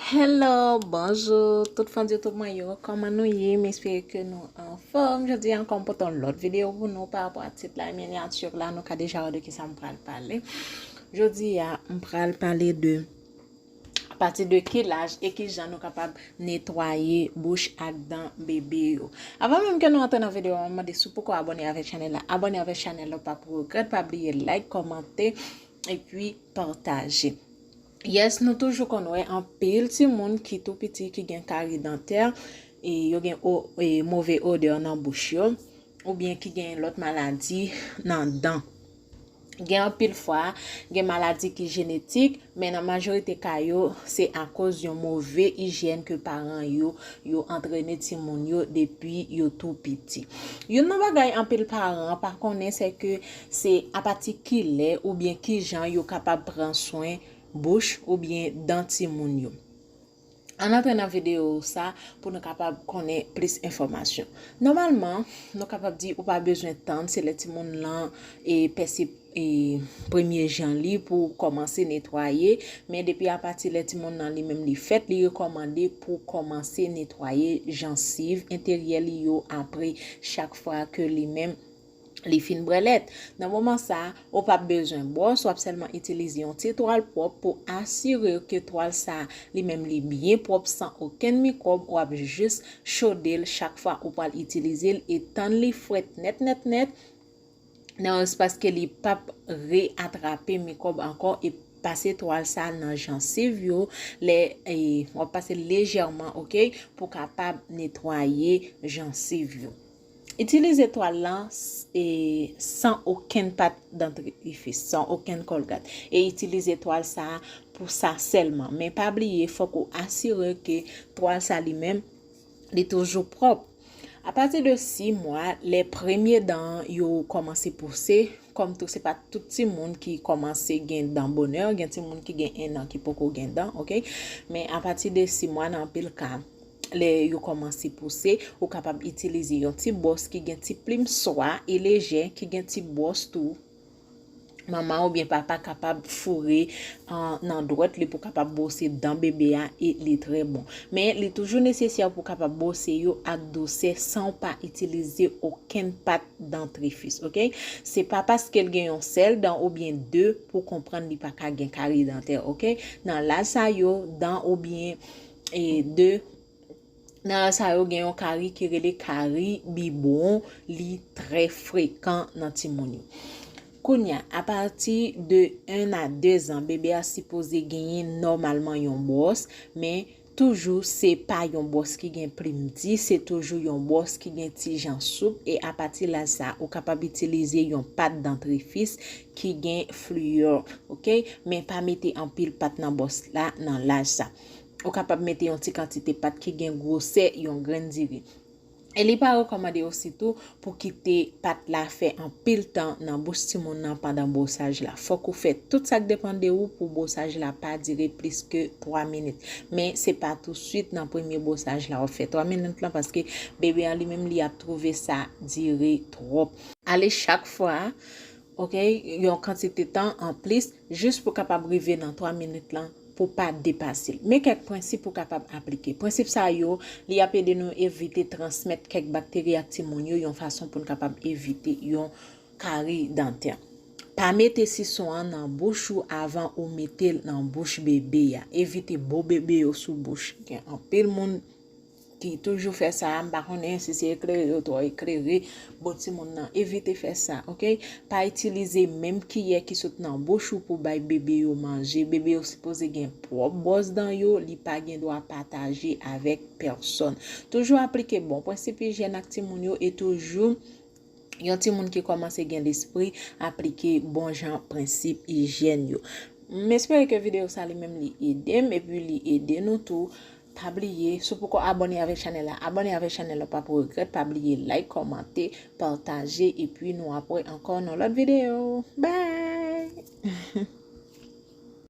Hello, bonjou tout fans YouTube mwen yo, kòman nou ye? M espere ke nou anfòm. Jodi a ankò m pote yon lòt videyo pou nou pa rapò a tit la e minyatur la, nou ka deja wè de ki sa m pral pale. Jodi a m pral pale de apati de ki laj e ki jan nou kapab netwaye bouch ak dan bebe yo. Avan menm ke nou antre nan videyo a, m mande si w poko abòne avèk chanèl la, abòne avèk chanèl la, w pap regrèt, pa bliye like, kòmante, epi pataje. Yes nou toujou konn wè anpil timoun ki tou piti ki gen kari dantè, yo gen move odè nan bouch yo, oubyen ki gen lòt maladi nan dan. Gen anpil fwa, gen maladi ki jenetik, men nan majorite ka yo, se akoz yon move ijyèn ke paran yo, yo antrene timoun yo depi yo tou piti. Youn nan bagay anpil paran pa konnen se ke Se apati ki lè oubyen ki jan yo kapab pran swen bouch oubyen dan timoun yo? Ann antre nan videyo sa pou nou kapab konnen plis enfòmasyon. Nòmalman, nou kapab di ou pa bezwen tann se lè timoun lan pèse premye jan li pou ou kòmanse netwaye, men depi apati lè timoun lan li menm li fèt, li rekòmande pou ou kòmanse netwaye jansiv enteryè li yo apre chak fwa ke li menm li fin brèlèt. Nan moman sa, ou pap bezwen bwòs, wap sèlman itilize yon ti twal pwòp pou asire w ke twal sa li menm li byen pwòp san okenn mikwòb, wap jis chode l chak fwa ou pral itilize l e tann li fwèt nèt nèt nèt nan yon espas ke li pap re atrape mikwòb ankò e pase twal sa nan jansiv yo lè wap pase l lejèman ok pou kapab netwaye jansiv yo. Itilize twal lan san okenn pat dantrifis, san okenn kòlgat, e itilize twal sa a pou sa sèlman. Men pa bliye fòk ou asire ke twal sa li menm li toujou pwòp. Apati de 6 mwa, lè premye dan an yo kòmanse pouse, Kòm tou se pa tout timoun ki kòmanse gen dan bonè, gen timoun ki gen 1 an ki poko gen dan ok, men apati de 6 mwa nan anpil ka lè yo kòmanse pouse ou kapab itilize yon ti bwòs ki gen ti plim swa e lejè ki gen ti bwòs tou manman oubyen papa kapab foure nan dwèt li pou kapab bwose dan bebe a e li trè bon. Men li toujou nesesè pou kapab bwose yo ak dousè san ou pa itilize okenn pat dantrifis ok se pa paskel gen yon sèl dan obyen 2 pou konprann li paka gen kari dantè ok nan laj sa yo dan obyen 2 nan laj sa yo gen yon kari ki rele kari bibwon li trè frekan nan timoun yo kounya apati de 1 a 2 zan bebe a sipoze genyen nòmalman yon bwòs men Toujou se pa yon bòs ki gen plim di, se toujou yon bòs ki gen ti jan soup e apati laj sa ou kapab itilize yon pat dantrifis ki gen fliyò ok men pa mete anpil pat nan bòs la nan laj sa. Ou kapab mete yon ti kantite pat ki gen gwosè yon grenn diri. e li pa rekòmande osi tou pou kite pat la fè anpil tan nan bouch timoun nan pandan bwosaj la. Fòk ou fè tout sak depan de ou pou bwosaj la pa dire plis ke 3 minit. Men se pa tou swit nan premye bwosaj la wap fè 3 minit lan paske bebe an li menm li ap twouve sa dire twòp. Ale chak fwa Ok yon kantite tan anplis jis pou kapab rive nan 3 minit lan pou pa depase l. Men kèk prensip ou kapab aplike. Prensip sa yo li ap ede nou evite transmèt kèk bakteri ak timoun yo yon fason pou n kapab evite yon kari dantè. Pa mete sison an nan bouch ou avan ou mete l nan bouch bebe a. Evite bo bebe yo sou bouch. Gen anpil moun. ki toujou fè sa a, m pa konnen si se eklere yo twò eklere, bon ti moun nan evite fè sa ok, pa itilize menm kiyè ki sot nan bouch ou pou bay bebe yo manje, bebe yo sipoze gen pwòp bwòs dan yo, li pa gen dwa pataje avèk pèsòn. Toujou aplike bon pwensip ijyèn ak ti moun yo e toujou yon ti moun ki kòmanse gen lespri aplike bon jan pwensip ijyèn yo. M espere ke videyo sa li menm li ede m epi li ede nou tou. Pa bliye si w poko abone avèk chanèl la abone avèk chanèl la w pap regrèt pa bliye like kòmante pataje epi nou ap wè ankò nan lòt videyo bye.